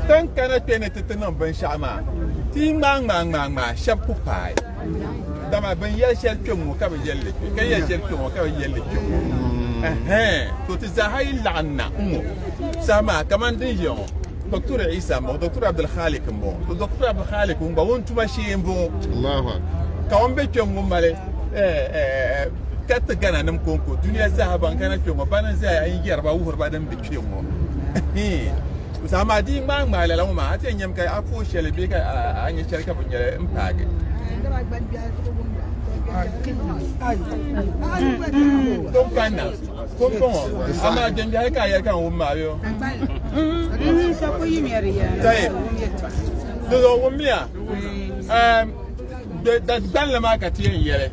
Tin kana kpe ni ti ti niŋ binshɛɣu maa, ti yi ŋmaai ŋmaai ŋmaai ŋmaai, shɛb ku paai. Dama bɛ ni yɛli shɛli kpɛŋŋo ka bi yɛli li kpe, ka yɛli shɛli kpɛŋŋo ka bi yɛli li kpɛŋŋo. Ɛhɛɛn! To ti zaaha yi laɣim na ŋ-ŋɔ saha maa kaman din ʒiya ŋɔ, Dɔktor Isa m-bɔŋɔ, Dɔktor Abdulkhalik m-bɔŋɔ, to Dɔktor Abdulkhalik ŋun gba wun tuma shee m-bɔŋɔ, ka ŋun be kpɛŋŋo mali kariti Ghananim kɔŋko duniya zaaha ban kana kpɛŋŋo, bana n-zaya n-yɛri ba wuhiri ba din be. kpe ŋɔ. Ɛhii. Zaɣ maa di yi ŋmaai ŋmaai lala ŋɔ maa a ti yɛn nyami ka a puhi shɛli bee ka a nya shɛli ka bi nyɛli n paagi. Tom kanna kom pa ŋɔ amaa gbɛmbi hali ka a yɛli ka n wum maa bee. Tayi di zuɣu wummiya da gbanli maa ka ti yɛn yɛli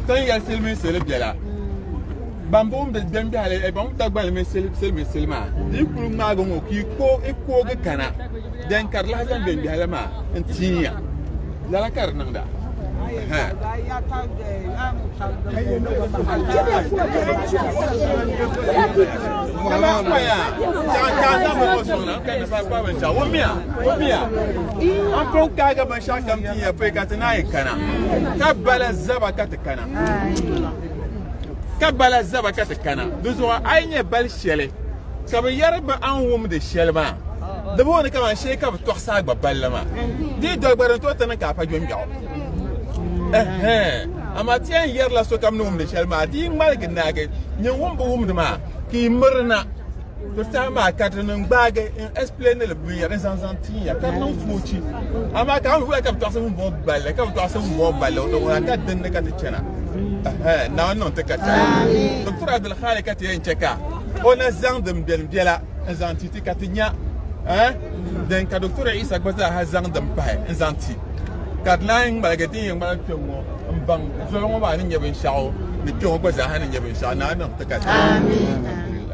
ti ni yɛli silimiin sili bɛla. Gbambo n be gbeŋ biɛhali Ebong Dagbani mini Siliminsili maa di yi kuli ŋmaagi ŋɔ ka i koogi kana then ka di lahi zaŋ gbeŋ biɛhali maa n tiin ya lala ka di niŋda an pun kaaga binshɛɣu kam tin ya pɔi ka ti naan yi kana ka bala zaba ka ti kana ka bala zaba ka ti kana di zuɣu a yi nyɛ bali shɛli ka bi yɛri ba a ni wumdi shɛli maa di booni ka ban shee ka bi tɔɣisi a gba balli maa di doli gba din tooi ti niŋ ka a pa gbɛmgbɛɣu amaa ti yɛn yɛrila sokam ni wumdi shɛli maa di yi ŋmaligi naagi nyini wumbu wumdi maa ka i mirina Di saha maa ka di niŋ gbaagi n explain li binyɛri zaŋ zaŋ tiiya ka di niŋ foochi amaa ka wula ka bi tɔɣisi ŋun bɔbi balli ka bi tɔɣisi ŋun bɔbi balli di ŋuna ka dinni ka ti chana naawuni niŋ ti ka chana doctor abdul khali ka ti yɛn chɛ ka o na zaŋ din bɛni bɛla n zaŋ ti ti ka ti nya din ka doctor isa gba zaaha zaŋ din pahi n zaŋ ti ka di naan ŋmaligi din yɛn ŋmaligi kpɛ ŋɔ n baŋ zoli ŋɔ maa ni nyɛ binshɛɣu ni kpɛ ŋɔ gba zaaha ni nyɛ binshɛɣu naawuni niŋ ti ka chana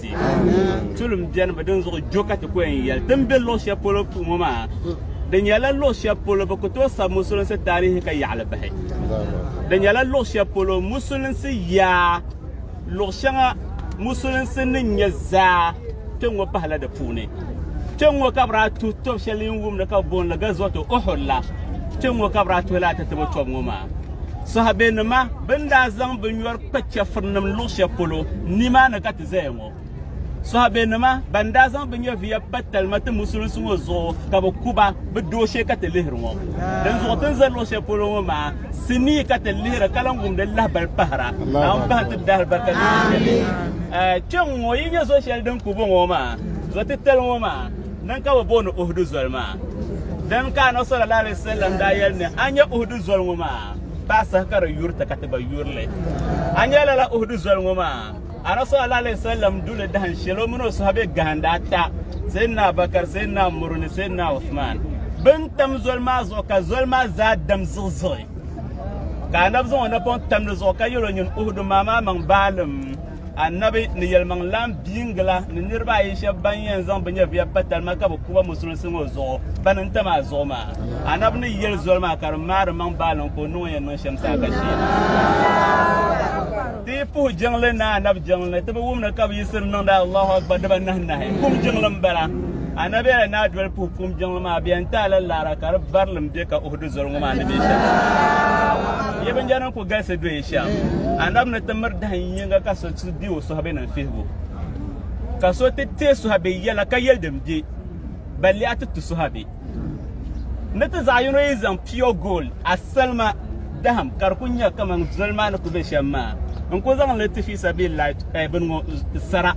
ti. Tulim bɛnibu din zuɣu jo ka ti ku yɛn yɛli ti ni be luɣ shɛli polo puhi ŋɔ maa, di nyɛla luɣ shɛli polo bɛ ku tooi sabi musulinsi taarihi ka yaɣili bahi. Di nyɛla luɣ shɛli polo musulinsi yaa luɣ shɛŋa musulinsi ni nya zaa kpɛŋŋɔ pahila di puuni. Kpɛŋŋɔ ka bɛ daa tuhi tɔb shɛli yi ni wumdi ka bɛ booni li Gazwatu Uhud la, kpɛŋŋɔ ka bɛ daa tuhi lala tatabo tɔb ŋɔ maa. Sɔhabinnima bɛ ni daa zaŋ binyɔri Kpa chɛfurinim luɣ shɛli polo nimaani ka ti zaya ŋɔ. Sɔhaabenima ban daa zaŋ bɛ nyɛviya pa talima ti Musulinsi ŋɔ zuɣu ka bɛ ku ba, bɛ dooshee ka ti lihiri ŋɔ. Dinzuɣu ti ni za luɣ shɛli polo ŋɔ maa, sinii ka ti lihira ka lan wumdi lahibal pahira. Naawuni bahim ti dahalibarika luɣ shɛli. Kpɛŋŋɔ yi nya zo shɛli din ku bɔŋɔ maa, zo titali ŋɔ maa, din ka bɛ booni Uhudu zoli maa. Dini ka Annabi sallallahu alaihi wasallam daa yɛli ni a nya Uhudu zoli ŋɔ maa? Paɣa saha ka di yuri ti ka ti gba yuri li. A nya lala Uhudu zoli ŋɔ maa? Anabi sallallahu alaihi wasallam du li dahin sheli o mini o sahabɛ gahinda ata, Sayyidina Abubakar, Sayyidina Umaru ni Sayyidina Uthman. Bɛ ni tam zoli maa zuɣu ka zoli maa zaa dam ziɣiziɣi. Ka Anabi zaŋ o napɔŋ tam di zuɣu ka yel o nyin Uhudu maa maa maŋ baalim. Annabi ni yɛlimaŋ lan biingi la ni niriba ayi shɛb ban yɛn zaŋ bɛ nyɛviya pa talima ka bi ku ba musulinsi ŋɔ zuɣu bani n tam a zuɣu maa. Annabi ni yɛli zoli maa ka di maari maŋ baaliŋ ka o niŋ o yɛn niŋ shɛm saha ka sheei. Ti yi puhi jiŋli ni Annabi jiŋli ti bi wum ni ka bɛ yiɣisiri niŋdi Allahu Akbar diba nahi nahi. Kum jiŋli m-bala. Annabi yɛla ni a doli puhi kum jiŋli maa bɛ yɛn ti a la laara ka di barilim be ka Uhudu zoli ŋɔ maa ni be shɛm. O galisi doya shɛm. Anabi ni ti miri dahin yiŋga ka so ti be o sɔhabinim fihibu. Ka so ti teei sɔhabi yɛla ka yɛli din be ba liɣa ti tu sɔhabi. Ni ti zaɣ yino yi zaŋ pure gold, asalima dahim ka di ku nya kaman zoli maa ni ku be shɛm maa n-ku zaŋ li ti fi sabilillahi bini ŋɔ sara,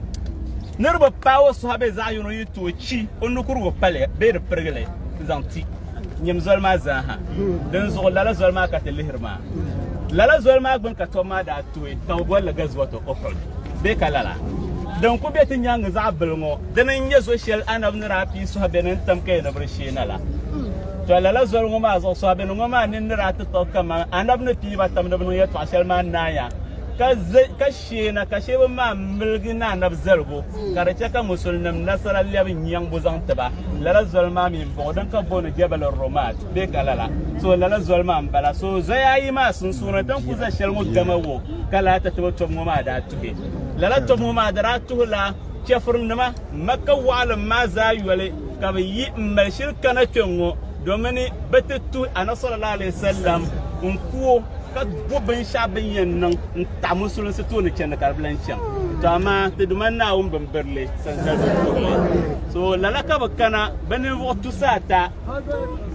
ni di bi paai o sɔhabi zaɣ yino yi tooi chi o nukurigu pali bee di pirigi li zaŋ ti. nyim zoli maa zaaha din zuɣu lala zoli maa ka ti lihiri maa lala zoli maa gbuni ka tɔb maa daa tooi ka bi bolli gazuwatu uhud bee ka lala din ku be ti nyaaŋa zaɣ bili ŋɔ dini n nyɛ zo shɛli anabi ni daa pii sɔhabiɛ ni tam kaya ni bi di sheena la to lala zoli ŋɔ maa zuɣu sɔhabiɛ ni ŋɔ maa nini ni daa ti tɔg kaman anabi ni pii ba tam ni bi niŋ yɛltɔɣa shɛli maa naaya ka Sheena ka sheba maa miligi ni anabi zaligu ka di che ka musulinim nasara lebi nyaŋbu zaŋ ti ba. Lala zoli maa mi m-bɔŋɔ din ka booni Jabal Rumat bee ka lala. So lala zoli maa m-bala. So zoya ayi maa sunsuuni din ku za sheli ŋɔ gama wo ka lala tatabo tɔbu ŋɔ maa daa tuhi. Lala tɔbu ŋɔ maa di daa tuhi la Chɛfurinima Makka wɔɣilim maa zaa yoli ka bɛ yi m-mali shiri kana kpe ŋɔ. domin bɛ ti tuhi Anabi sallallahu alaihi wasallam n ku o ka bo binshɛɣu bin yɛn niŋ n taɣi musulinsi tooni chɛndi ka di bi lan chaŋ to amaa ti Duuma Naawuni bimbirili sansali bi tuhi ma so lala ka bi kana bɛ ninvuɣ tusa ata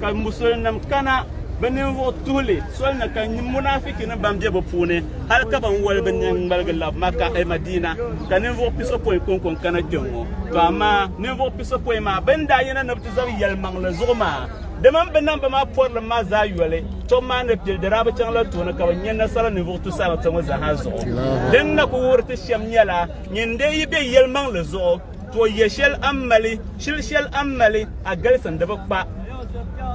ka musulinim kana bɛ ninvuɣ tuhili soli ni ka munaafikinim ban be bɛ puuni hal ka ban wali bɛ nini ŋmaligi labi Maka e Madiina ka ninvuɣ pisopɔin kɔŋko n-kana kpɛŋŋo to amaa ninvuɣ pisopɔin maa bɛ ni daa yina ni zaŋ yɛlimaŋli zuɣu maa. Dama m bi niŋ bɛ maa pɔrilim maa zaa yoli, tom maa ni pili di daa bi chaŋ la tooni ka bɛ nya nasara ninvuɣ tusariti ŋɔ zaaha zuɣu. Din na ku wuhiri ti shɛm nyɛla, nyin dee yi be yɛlimaŋli zuɣu, too yɛ shɛli a ni mali, chili shɛli a ni mali, a galisi n di bi kpa.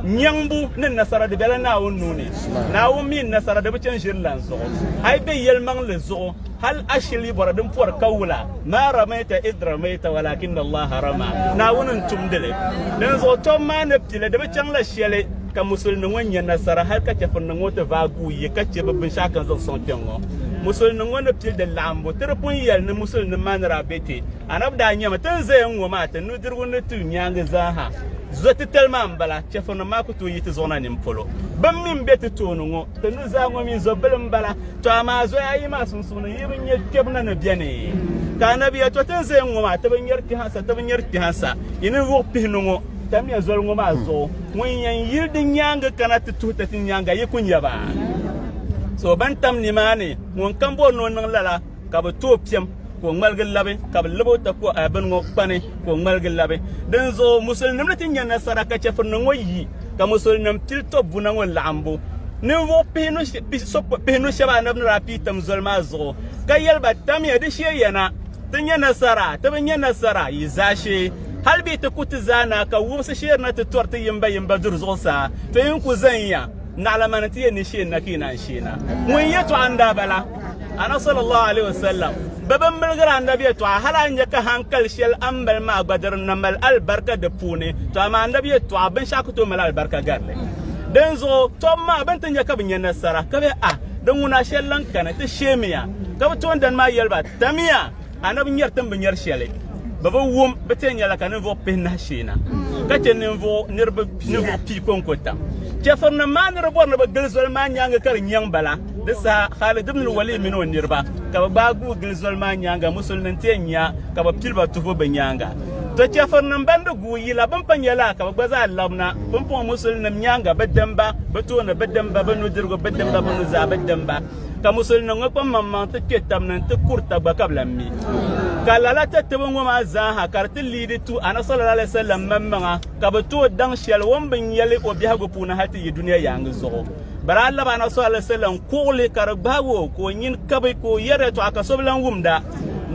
Nyaŋbu ni nasara di bela Naawuni nuu ni. Naawuni mi ni nasara di bi chani ʒiri lan zuɣu. A yi be yɛlimaŋli zuɣu, Hal a shili yi bɔra din pɔri ka wula, Ma ramaita idh ramaita walakinna Allaha rama, Naawuni n-tumdi li. Dinzuɣu tom maa ni pili, di bi chaŋla shɛli ka musulimi ŋɔ nya nasara hal ka chɛfurinim ŋɔ ti vaai guui yi ka chɛ bɛ binshɛɣu ka n zaŋ sɔŋ kpɛŋŋɔ. Musulinim ŋɔ ni pili di laɣimbu, ti di pun yɛli ni musulinim maa ni daa be kpe. Anabi daa nyami, Ti ni zaya ŋ-ŋɔ maa, ti nudirigu ni ti nyaaŋa zaaha, zɔtitali maa m-bala, chɛfurinim maa ku tooi yi ti zuɣu na nini polo. Bɛn mi m-be ti tooni ŋɔ. Di nuzaa ŋɔ mi zo bili m-bala, tɔ amaa zoya ayi maa sunsuuni yi bi nya kpɛbu na ni beni. Ka Anabia tɔ ti ni zaya ŋ-ŋɔ maa, ti bi nyari kpɛha sa, ti bi nyari kpɛha sa. Yi ni wuɣi pihi ni ŋɔ, tamya zoli ŋɔ maa zuɣu, ŋun yɛn yiri di nyaaŋa kana ti tuhi ti ti nyaaŋa, yi ku nya ba. So bɛn tam nimaani, ŋunkam bɔri ni o niŋ lala. ka bɛ tooi piɛm ka o ŋmaligi labi ka bɛ labi o tako a bini ŋɔ kpani ka o ŋmaligi labi dinzuɣu musulinim ni ti nya nasara ka chɛfurinima ŋɔ yi ka musulinim pili tɔbbuna ŋɔ laɣimbu ninvuɣ pihinu shɛba anabi ni daa pii tam zoli maa zuɣu ka yɛli ba tamya di sheeya na ti nya nasara ti bi nya nasara yi zaashee hali bɛ yi ti ku ti zaa na ka wumsi sheerina ti tɔri ti yimbayimba duri zuɣusaa to yi ni ku zaniya Naɣila mani ti yɛ ni sheeni na ka yi naan sheeni a. Ŋun yɛtɔɣa n-daa bala, Ana sallallahu alayhi wa sallam, bɛ bi milgiri a Nabi yɛtɔɣa hal a ni nya ka hankali shɛli a ni mali maa gba di rinna mali alibarika di puuni, tɔ amaa a Nabi yɛtɔɣa binshɛɣu ku tooi mali alibarika gari li. Dinzuɣu tɔbu maa bɛ ni ti nya ka bɛ nya nasara ka bɛ, Ah! Di ŋuna shɛli lahi kani, ti sheemiya. Ka bɛ toondana maa yɛli ba, Tamiya! Anabi nyɛri tin bi nyɛri shɛli bi bi wum bi tee nyɛla ka ninvuɣu pihi nahi sheena ka chɛ ninvuɣu niriba ninvuɣu pii konko tam chɛfurinim maa ni di bɔri ni bi gili zoli maa nyaanga ka di nyɛŋ bala di saha Khalid ibn Walid mini o niriba ka bi gbaai guui gili zoli maa nyaanga musulmin ti yɛn nya ka bi pili ba tuhibu bi nyaanga to chɛfurinim ban di guui yila bin pa nyɛla ka bi gba zaa labina pumpɔŋɔ musulnim nyaanga bi dimba bi tooni bi dimba bi nudirigu bi dimba bi nuzaa bi dimba ka musulinim ŋɔ kpaŋ maŋ maŋ ti kpe tab ni nti kuri tagba ka bi lan mi. Ka lala tatibu ŋɔ maa zaa ha ka di ti liidi tu Ana sallallahu alaihi wasallam mammaŋa ka bi tooi daŋ shɛli o ni bi nya li o biɛhigu puuni hal ti yi dunia yaaŋa zuɣu. Bari a laba Ana sallallahu alaihi wasallam kuɣili ka di gbahigi o ka o nyin kabi ka o yɛri yɛtɔɣa ka so bi lan wumd a.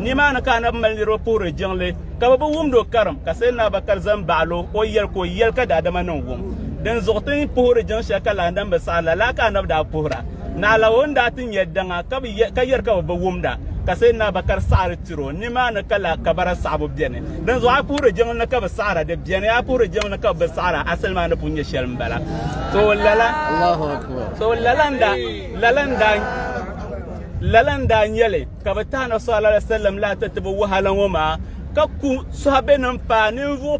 Nimaa ni ka Anabi mali niriba puhiri jiŋli ka bɛ bi wumd o karim ka Sayyidina Abubakar za m-baɣil o o yɛli ka o yɛli ka daadama niŋ wum. Dinzuɣu ti ni puhiri jiŋ shɛli ka lahandana bi saɣi, lala ka Anabi daa puhira. Naɣila o ni daa ti nya daŋa ka bi ka yɛri ka bi bi wumda, ka Sayyidina Bakar saɣiri tiri o. Nimaani ka laa kabara saɣibu beni. Dinzuɣu a puhiri jiŋli ni ka bi saɣira di beni, a puhiri jiŋli ni ka bi bi saɣira asali maa ni pun nyɛ shɛli m-bala. So lala, so lala n-daa, lala n-daa, lala n-daa nyɛ li ka bi tahi Nabi sallallahu alaihi wa sallam lahi ti ti bi wahala ŋɔ maa, ka ku Sɔhaabinim paai ninvuɣ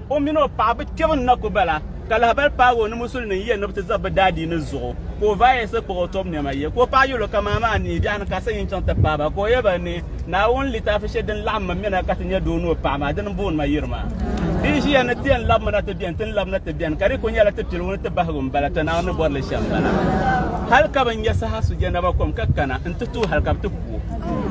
O mini o paɣa bi kpɛbu n-na ku ba la, ka lahibali paagi o ni Musuli nim yiya ni bi ti zab bi daadiini zuɣu, ka o vaayɛsi kpuɣi o tɔbu nɛma yiya. Ka o paɣa yɛl o, Kaman amaa n-nihi biɛɣuni ka a sa yi ni chaŋ ti paai ba. Ka o yɛl ba ni, Naawuni litaafi shɛli din laɣim ma mi na ka ti nya doo ni o paɣa maa, dini m-booni ma yiri maa. Di yi ʒiya ni ti yɛn labi ma na ti beni, ti ni labi na ti beni, ka di ku nyɛla ti piligu ni ti bahigu m-bala, tɔ Naawuni ni bɔri li shɛm m-bala. Hal ka bɛ nya saha su jɛnaba kom ka kana n-ti tuhi hal ka bɛ ti ku o.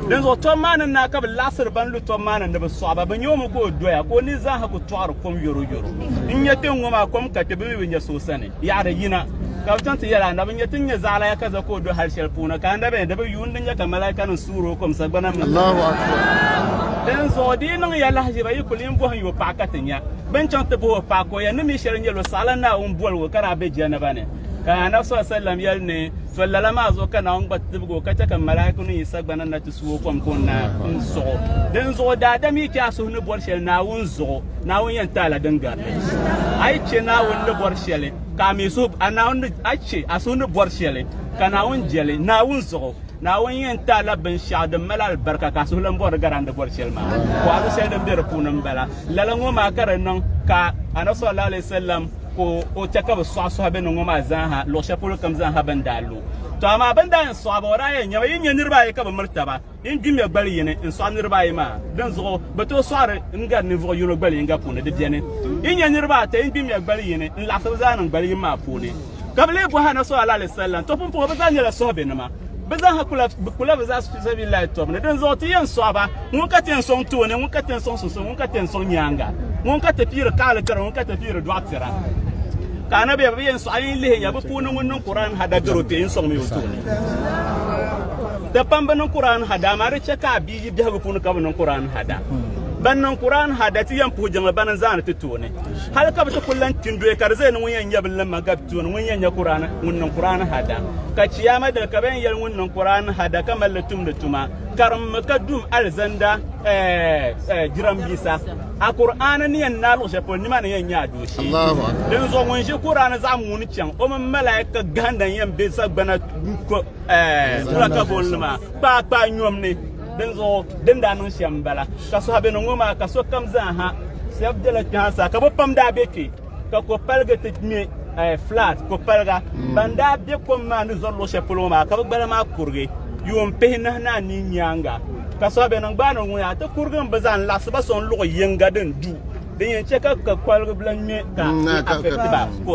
Dinzuɣu tɔb maa ni naa ka bi laɣisiri ban lu tɔb maa ni ni bi sɔɣi ba, bi nya o mi ka o doya, ka o ni zaaha ku tɔɣiri kom yɔro yɔro. N nya kpe ŋ-ŋɔ maa kom ka kpe, bɛ mi bi nya so o sani. Yaɣiri yina, ka bɛ chaŋ ti yɛli anabi, N nya ti ni nya zaɣilaya ka za ka o do hal shɛli puuni, ka anabi ni di bi yuun di nya ka malaikanim suuri o kom sagbana mini zuɣusaa. Dinzuɣu di yi niŋ ya lahiʒiba, yi kul yin bɔhi n-yo paɣa ka ti nya. Bɛ ni chaŋ ti bɔh o paɣa ka o yɛli, Ni mi shɛli n-nyɛl o, saɣila Naawuni boli o ka daa be jɛnaba ni. Ka Anabi sɔlim yɛli ni So lala maa zuɣu ka Naawuni gba tibigi o ka chɛ ka malaaikunim yi sagbana na ti su o kom ka o naai n suɣ o. Dinzuɣu daadam yi chɛ a suhu ni bɔri shɛli Naawuni zuɣu, Naawuni yɛn ti a la din gari li. A yi chɛ Naawuni ni bɔri shɛli ka a mi suhu, a Naawuni, a yi chɛ a suhu ni bɔri shɛli ka Naawuni je li Naawuni zuɣu, Naawuni yɛn ti a la binshɛɣu din mali alibarika ka a suhu lan bɔri di gari a ni bɔri shɛli maa. Bɔhiri shɛli din be di puuni m-bala. Lala ŋɔ maa ka di niŋ ka Annabi sallallahu alaihi wasallam ka o chɛ ka bɛ sɔɣi sɔhi bɛ ni ŋɔ maa zaaha luɣ shɛli polo kam zaaha bɛ ni daa lu. Tɔ amaa bɛ ni daa yɛn sɔɣi ba, o daa yɛn nyɛba, Yi nya niriba ayi ka bɛ miri taba, yi gbi ŋmɛ gbali yini n-sɔɣi niriba ayi maa, dinzuɣu bɛ tooi sɔɣiri n gari ninvuɣ yino gbali yiŋga puuni di beni. Yi nya niriba ata yi gbi ŋmɛ gbali yini n-laɣisi bɛ zaa niŋ gbali yini maa puuni, ka bɛ lee bɔhi Annabi sallallahu alaihi wasallam, tɔ pumpɔŋɔ bɛ zaa nyɛla sɔhibɛnima. Bɛ zaaha kula bɛ kula bɛ zaɣisi fi sabilillahi tɔbu ni, dinzuɣu ti yɛn sɔɣi ba, ŋun ka ti yɛn sɔŋ tooni, ŋun ka ti yɛn sɔŋ sunsuuni, ŋun ka ti yɛn sɔŋ nyaaŋa, ŋun ka ti piiri kaɣili tiri, ŋun ka ti piiri dɔɣi tira. Ka Anabia bi yɛn sɔɣi a yɛn lihi ya bɛ puuni ŋun niŋ Kur'an hada daro kpe n-sɔŋ mi o tooni. Di pam bɛ niŋ Kur'an hada, amaa di chɛ ka a bia yi biɛhigu puuni ka bi niŋ Kur'an hada. Ban niŋ Kur'an hada ti yɛn puhi jiŋli bani n-zaani ti tooni. Hali ka bi ti kul lan kpindoya ka di zaya ni ŋun yɛn nyɛ bilim ma gabi tooni ŋun yɛn nyɛ Kur'an ŋun niŋ Kur'an hada. Ka Chiyaama dini ka bɛ yɛn yɛli ŋun niŋ Kur'an hada ka mali li tumdi tuma karimmi ka dum alizanda jirambisa. A Kur'aana ni yɛn naai luɣ shɛli polo nima ni yɛn nyɛ a dooshee. Dinzuɣu ŋun ʒi Kur'aana zaɣ muuni chaŋ o mini malaika gahinda n-yɛn be sagbana tulakabonli maa. Kpaakpaa nyom ni, dinzuɣu din daa niŋ shɛm m-bala. Ka sɔhibɛno ŋɔ maa ka sokam zaa ha shɛb bela kpe ha sa, ka bɛ pam daa be kpe ka ko paligi ti ŋme flat ko paliga. Ban daa be kom maa ni zɔri luɣ shɛli polo ŋɔ maa ka bɛ gbala maa kurigi yuun pihi nahi ni anii nyaaŋa. Ka sɔhibɛno gbaai ni ŋuna ti kurigi m-bi zaa n-laɣisi ba sɔŋ luɣ yiŋga din du. Din yɛn chɛ ka kukɔliga bila ŋme ka mm, di afɛkti ba ko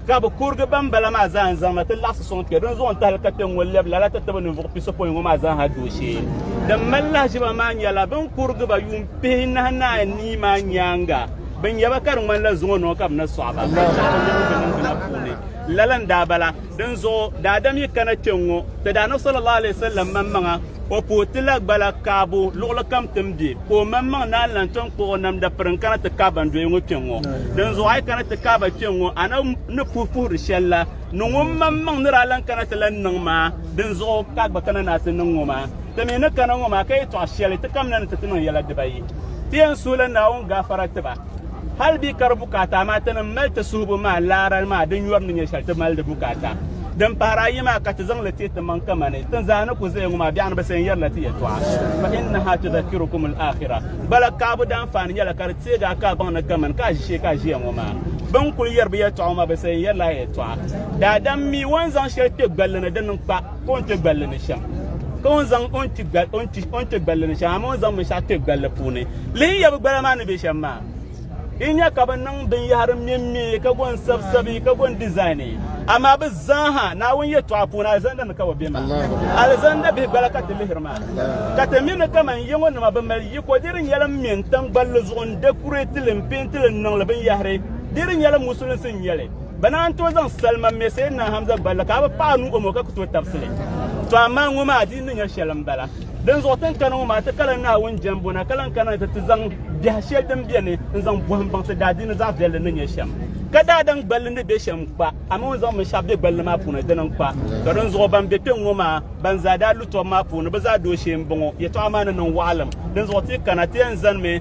ka bi kurigi banbala maa zaa n-zaŋ na ti laɣisi sɔŋ kpɛ din zuɣu n-tahili ka kpɛ ŋ-ŋɔ lɛbi lala ti tibi ninvuɣ pisopɔin ŋɔ maa zaa ha dooshee. Din mali lahiʒiba maa nyɛla bɛ ni kurigi ba yuun pihi nahi naai nii maa nyaaŋa bɛ nya ba ka di ŋmanila zuŋɔ nɔɔ ka bɛ na sɔɣi ba lala n-daa bala. Dinzuɣu daadam yi kana kpɛ ŋ-ŋɔ, Tidana sallallahu alaihi wasallam maŋmaŋa O pa o ti la gbala kaabu luɣili kam ti ni be, ka o maŋmaŋ naan lan tom kpuɣi o namda piri n-kana ti kaai ban doya ŋɔ kpiɔŋ ŋɔ. Dinzuɣu a yi kana ti kaai ba kpiɔŋ ŋɔ, a na ni puhi puhiri shɛli la, niŋ o maŋmaŋ ni daa lan kana ti lan niŋ maa. Dinzuɣu ka a gba kana ni a ti niŋ ŋɔ maa. Ti mi ni kana ŋɔ maa ka yɛtɔɣ shɛli ti kamina ni ti ti niŋ yɛla dibayi. Ti yɛn suhila Naawuni gaafara ti ba. Hal bɛ ka di bukaata, amaa ti ni mali ti suhibu maa laara maa din yɔri ni nyɛ shɛli ti mali di bukaata. Din pahiri ayi maa ka ti zaŋli teei timaŋ kamani tin zaa ni ku zaya ŋɔ maa biɛɣuni bi sayin yɛrila ti yɛtɔɣa, fa innahaa tudhakkirukum al-aakhira. Bala kaabu daanfaani nyɛla ka di teegi a ka a baŋ ni kamani ka a ʒi shee ka a ʒiya ŋɔ maa bɛn kul yɛri bɛ yɛtɔɣa ŋɔ maa bi sayin yɛrila a yɛtɔɣa. Daadam mi o ni zaŋ shɛli kpe gballi ni di niŋ kpa. ka o ni kpe gballi ni shɛm ka o ni zaŋ o ni kpe gballi ni shɛm amaa o ni zaŋ binshɛɣu kpe gballi puuni lihi yabi gbala maa ni be shɛm maa yi nya ka bɛ niŋ binyɛhiri mɛmmɛ ka go n-sabisabi ka go n-dizaini amaa bɛ zaaha Naawuni yɛtɔɣa puuni alizanda ni ka bɛ be maa alizanda bihi gbala ka ti lihiri maa ka ti mi ni kaman yiŋɔ nima bɛ mali yiko di di nyɛla m-me n-tam gballi zuɣu n-dɛkurɛti li m-peenti li n-niŋ li binyɛhiri di di nyɛla musulinsi n-nyɛ li Bɛ naan tooi zaŋ salima me Sayyidina Hamza gballi ka a bi paɣ a nuu o maŋa ka ku tooi tabisi li. To amaa ŋɔ maa di ni nyɛ shɛli m-bala. Dinzuɣu ti ni kani ŋɔ maa ti ka la Naawuni jɛmbu na ka lan kana ni ti ti zaŋ biɛha shɛli din beni n-zaŋ bɔhi m-baŋ ti daadiini zaɣ viɛlli ni nyɛ shɛm. Ka daadam gballi ni be shɛm kpa, amaa o ni zaŋ binshɛɣu be gballi maa puuni dini n-kpa. To dinzuɣu ban be kpe ŋ-ŋɔ maa ban zaa daa lu tɔbu maa puuni bɛ zaa dooshee m-bɔŋɔ. Yɛtɔɣa maa ni niŋ waɣilim. Dinzuɣu ti yi kana ti yɛn zanimi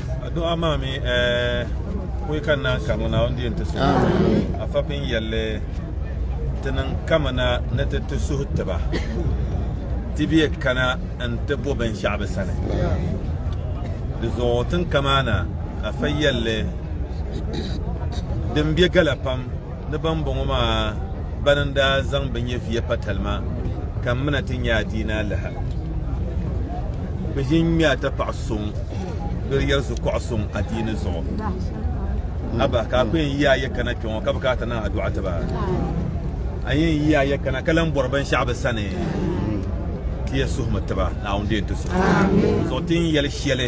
Addu'a maa mi kuli ka naan ka ŋuna o ni diin ti suhi a fapin yɛlli ti niŋ kamina ni ti ti suhi tiba ti bɛ kana n ti bo binshɛɣu bi sani di zuɣu tinkamaana afa yɛlli din bɛ gala pam ni bambɔŋɔ maa bana n-daa zaŋ bɛ nyɛviya pa talima ka m mina ti nya adiina alaha. Bɛ ʒi n-ŋme a tapaɣ suŋ doli yɛri zukuɣ suŋ adiini zuɣu. Aba, ka a ku yɛn yi a ya kana kpe ŋɔ ka bɛ ka a ti niŋ a dɔɣi ti ba? A yɛn yi a ya kana ka lan bɔri binshɛɣu bɛ sani? Ti yɛn suhimi ti ba, Naawuni di yɛn ti suhi zuɣu ti ni yɛli shɛli.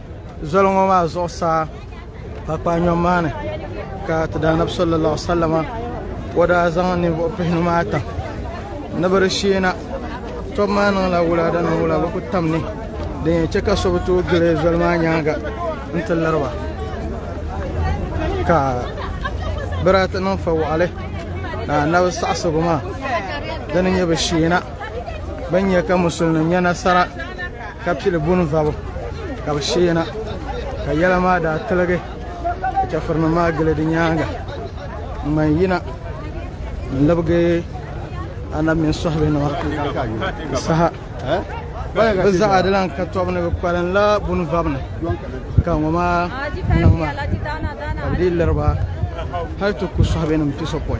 Zoli ŋɔ maa zuɣusaa kpaakpaanyom maa ni ka ti daanabi sallallahu alaihi wasallama o daa zaŋ ninvuɣu pihinu maa tam ni bi di sheena tɔb maa niŋla wulada ni wula bi ku tam ni din yɛn chɛ ka so bi tooi gili zoli maa nyaanga n ti liriba ka bi daa ti niŋ fa waɣali ka anabi saɣasigu maa dini nyɛ bi sheena bin nyɛ ka musulin nim nyɛ nasara ka pili bunvabu ka bɛ sheena ka yɛla maa daa tiligi ka chɛfurinim maa gili di nyaaŋa ŋman yina n-libigi anab mini sɔhibihi nima saha bɛ zaɣa di lan ka tɔbu ni bɛ kpalinla bunvabu ni ka ŋɔ maa niŋ maa ka di liri ba hali ti ku sɔhibihi nim piso pɔi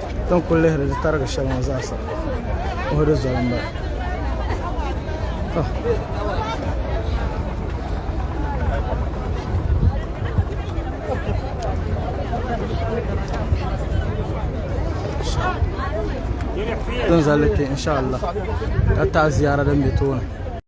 Ti ni kuli lihiri di tarigi shɛli ŋɔ zaasa puhi di zoli m-bala. Ti ni zali kpe insha'Allah ka taɣi ziyara din be tooni.